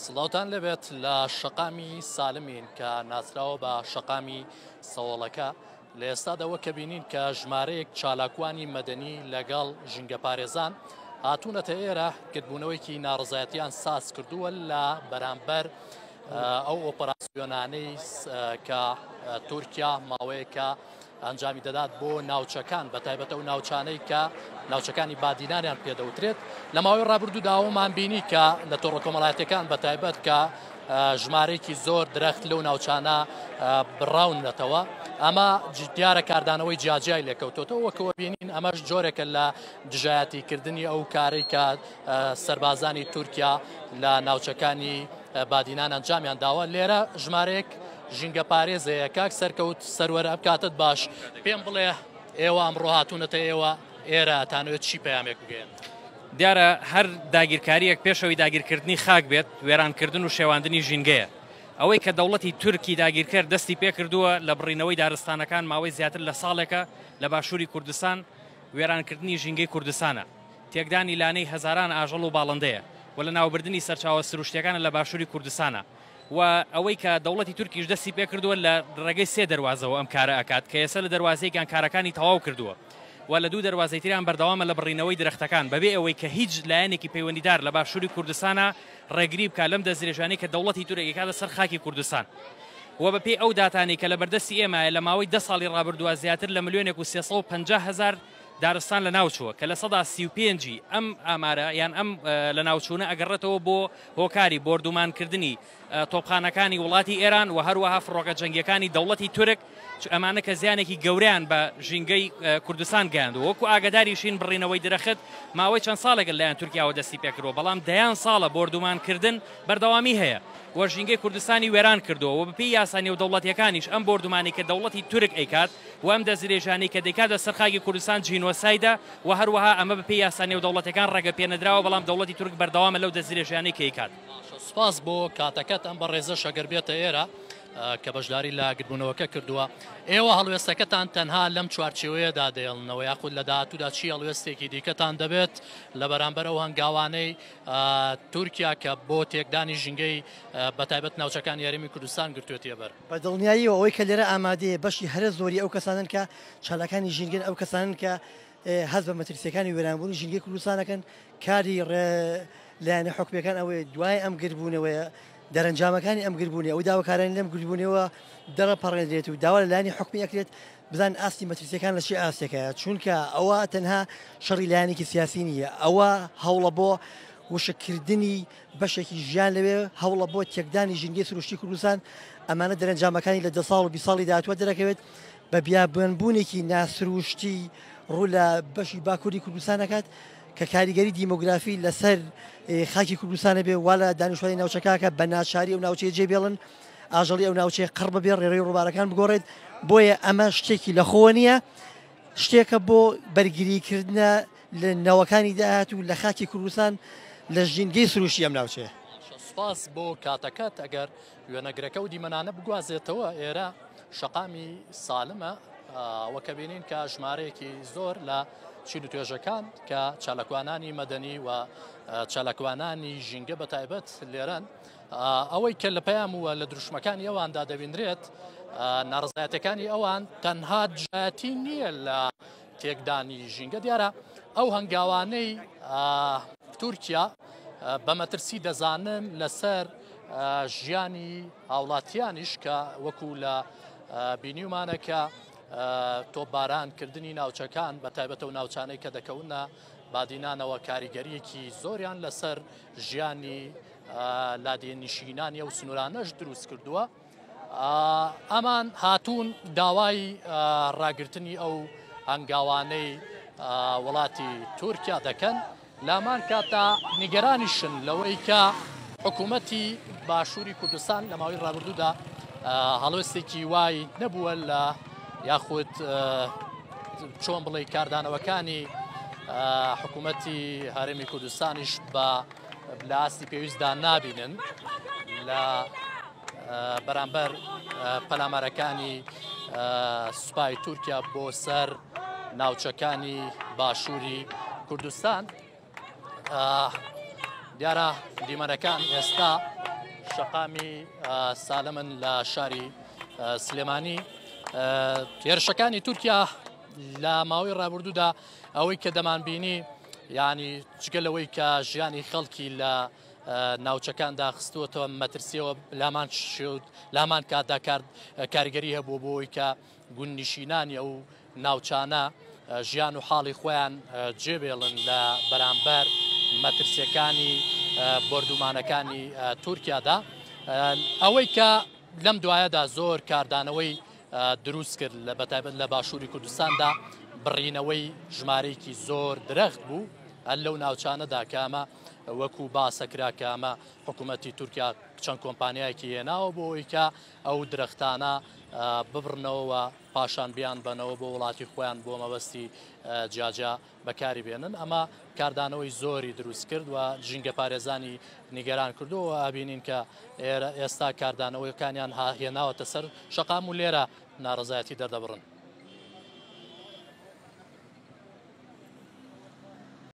سڵاوان لەبێت لە شەقامی سالمین کە ناسراوە بە شەقامی سەوڵەکە لە ئێستادەوە کە بینین کە ژمارەیەک چالاکوانی مەدەنی لەگەڵ ژینگە پارێزان هاتوونەتە ئێرە کردبوونەوەیکی ناڕزایەتیان ساز کردووە لە بەرامبەر ئەو ئۆپەراسیۆنانەی کە تورکیا ماوەیەکە ئەنجامی دەدات بۆ ناوچەکان بە تایبەتە و ناوچانەی کە ناوچەکانی بادینانیان پێدەوترێت لە ماوەی ڕابردوو داوەمان بینی کە لە تۆڕە کۆمەڵاتەکان بە تایبەت کە ژمارێکی زۆر درەخت لەو ناوچانە بڕاونەتەوە ئەمە دیارە کاردانەوەی جیاجیای لێکەوتۆتەوە وەکەوە بینین ئەمەش جۆرێکە لە دژایەتیکردنی ئەو کارێک کە سربازانی تورکیا لە ناوچەکانی بادینان ئەنجامیان داوە لێرە ژمارەیەک ژینگە پارێز هەیە کاک سەرکەوت سەروەر ئەم کاتت باش پێم بڵێ ئێوە ئەمڕۆ هاتوونەتە ئێوە ئێرە تانوێت چی پەیامێک بگەێن دیارە هەر داگیرکاریەک پێشەوەی داگیرکردنی خاک بێت وێرانکردن و شێواندنی ژینگەیە ئەوەی کە دەوڵەتی تورکی داگیرکەر دەستی پێکردووە لە بڕینەوەی دارستانەکان ماوەی زیاتر لە ساڵێکە لە باشووری کوردستان وێرانکردنی ژینگەی کوردستانە تێکدانی لانەی هەزاران ئاژەڵ و باڵندەیە و لەناوبردنی سەرچاوە سروشتییەکانە لە باشووری کوردستانە و ئەوەی کە دەوڵەتی تورکیش دەستی پێکردووە لە ڕێگەی سێ دەروازەوە ئەم کارە ئەکات کە ئێستا لە دەروازەیەکیان کارەکانی تەواو کردووە و لە دوو دەروازەی تریان بەردەوامە لە بڕینەوەی درەختەکان بەبێ ئەوەی کە هیچ لایەنێکی پەیوەندیدار لە باشووری کوردستانە ڕێگری بکات لەم دەستدرێژانەی کە دەوڵەتی تورک ئەکاتە سەر خاکی کوردستان و بەپێی ئەو داتانەی کە لە بەردەستی ئێمەیە لە ماوەی دە ساڵی ڕابردووە زیاتر لە ملیۆنێک و سێ سەد و پەنجا هەزار دارستان لەناوچووە کە لە سەدا سی و پێنج ی ئەم ئامارە یان ئەم لەناوچوونە ئەگەڕێتەوە بۆ هۆکاری بۆردومانکردنی تۆپخانەکانی وڵاتی ئێران و هەروەها فڕۆکە جەنگیەکانی دەوڵەتی تورک چ ئەمانە کە زیانێکی گەوریان بە ژینگەی کوردستان گەیاندو وەکو ئاگداریشین بڕینەوەی درەخت ماوەی چەند ساڵێکە لەیان تورکیاوە دەستی پێکردوە بەڵام دەیان ساڵە بۆردومانکردن بەردەوامی هەیە و ژینگەی کوردستانی وێران کردووە و بەپێی یاسا نێودەوڵەتیەکانیش ئەم بۆردومانی کە دەوڵەتی تورک ئەیکات و ئەم دەستدرێژانەی کە دەیکات لەسەر خاکی کوردستان جینۆسایدە و هەروەها ئەمە بەپێی یاسا نێودەوڵەتیەکان ڕێگەپێنەدراوە، بەڵام دەوڵەتی تورک بەردەوامە لەو دەستدرێژیانەی کە ئەیکات. سوپاس بۆ کاتەکەت، ئەم بەڕێزەش ئەگەر بێتە ئێرە کە بەشداری لە گردبوونەوەکە کردووە، ئێوە هەڵوێستەکەتان تەنها لەم چوارچێوەیەدا دەهێڵنەوە یاخود لە داهاتوودا چی هەڵوێستێکی دیکەتان دەبێت لە بەرامبەر ئەو هەنگاوانەی تورکیا کە بۆ تێکدانی ژینگەی بەتایبەت ناوچەکانی هەرێمی کوردستان گرتوێتیەبەر؟ بە دڵنیاییەوە ئەوەی کە لێرە ئامادەیە بەشی هەرە زۆری ئەو کەسانەن کە چالاکانی ژینگەن، ئەو کەسانەن کە هەست بە مەترسییەکانی وێرانبوونی ژینگەی کوردستان دەکەن، کاری لایەنە حکومییەکان ئەوەیە دوای ئەم گردبوونەوەیە، دەرەنجامەکانی ئەم گردبوونەوە، ئەو داوکارانەی لەم گردبوونەوەیەوە دەڕەپەڕێنرێت و داوا لە لایەنی حکومی ئەکرێت بزانن ئاستی مەترسییەکان لە چی ئاستێکەیە، چونکە ئەوە تەنها شەڕی لایەنێکی سیاسی نییە، ئەوە هەوڵە بۆ وشککردنی بەشێکی ژیان لەوێ هەوڵە بۆ تێکدانی ژینگەی سروشتی کوردستان ئەمانە دەرەنجامەکانی لە دە ساڵ و بی ساڵی داهاتوە دەرەکەوێت بە بیابوێنبوونێکی ناسروشتی ڕوو لە بەشی باکووری کوردستان دەکات کە کاریگەری دیموگرافی لەسەر خاکی کوردستانە بێ وا لە دانیشتوانی ناوچەکەکە بە ناچاری و ناوچەیە جێ بێڵن ئاژەڵی ئەو ناوچەیە قڕ بەبێ ڕێڕی ڕووبارەکان بگۆڕێت بۆیە ئەمە شتێکی لە خۆوە نییە شتێکە بۆ بەرگریکردە لە نەوەکانی داهات و لە خاکی کوردستان لە ژینگەی سروشی ئەم ناوچەیە. سپاس بۆ کاتەکەت ئەگەر وێنەگرەکە و دیمەنانە بگوازێتەوە ئێرە شەقامی سالمە وەکە بینین کە ژمارەیەکی زۆر لە چین و توێژەکان کە چالاکوانانی مەدەنی و چالاکوانانی ژینگە بە تایبەت لێرەن ئەوەی کە لە پەیام وە لە دروشمەکانی ئەواندا دەبینرێت ناڕزایەتەکانی ئەوان تەنها دژایەتی نییە لە تێکدانی ژینگە دیارە ئەو هەنگاوانەی تورکیا بە مەترسی دەزانن لەسەر ژیانی هاوڵاتیانیش کە وەکو لە بینیومانەکە تۆبارانکردنی ناوچەکان بە تایبەتە و ناوچانەی کە دەکەونە بادینانەوە کاریگەریەکی زۆریان لەسەر ژیانی لادێنیشینانی ئەو سنوورانەش دروست کردووە. ئەمان هاتوون داوای ڕاگرتنی ئەو هەنگاوانەی وڵاتی تورکیا دەکەن لامان کاتا نیگەرانیشن لەوەی کە حکوومەتی باشووری کوردستان لە ماوەی ڕابردوودا هەڵوێستێکی وای نەبووە لە یاخود چۆن بڵێ کاردانەوەکانی حکوومەتی هەرمی کوردستانیش بە لە ئاستی پێویستدا نابینن لە بەرامبەر پەلامارەکانی سوپای تورکیا بۆ سەر ناوچەکانی باشووری کوردستان دیارە دیمەنەکان ئێستا شەقامی سالمن لە شاری سلێمانی هێرشەکانی تورکیا لە ماوەی ڕابردوودا ئەوەی کە دەمانبینی ینی جگە لەوەی کە ژیانی خەڵکی لە ناوچەکان داخستووەتەوە مەترسیەوە لامان شێوت لامان کاتدا کارد کارگەری هەبوو بۆی کە گون نیشینانی ئەو ناوچانە ژیان و حاڵی خۆیان جێبێڵن لە بەرامبەر مەترسیەکانی بردومانەکانی تورکیادا ئەوەی کە لەم دوایەدا زۆر کاردانەوەی دروست کرد لە بەتابەت لە باشووری کوردستاندا بڕینەوەی ژمارەیەکی زۆر درەخت بوو هەر لەو ناوچانەدا کامە وەکو باسەکرا کامە حکوومەتتی تورکیا چەند کۆمپانیایەکی هێناوە بۆ ئەویکە ئەو درەختانە ببڕنەوە پاشان بیان بنەوە بۆ وڵاتی خۆیان بۆ مەبەستی جاجا بەکاری بێنن، ئەمە کاردانەوەی زۆری دروست کرد و ژینگەپارێزانی نیگەران کردووە و ئابینین کە ئێستا کاردانەوەکانیان هێناوەتە سەر شەقام و لێرە ناڕەزایەتی دەردەبڕن.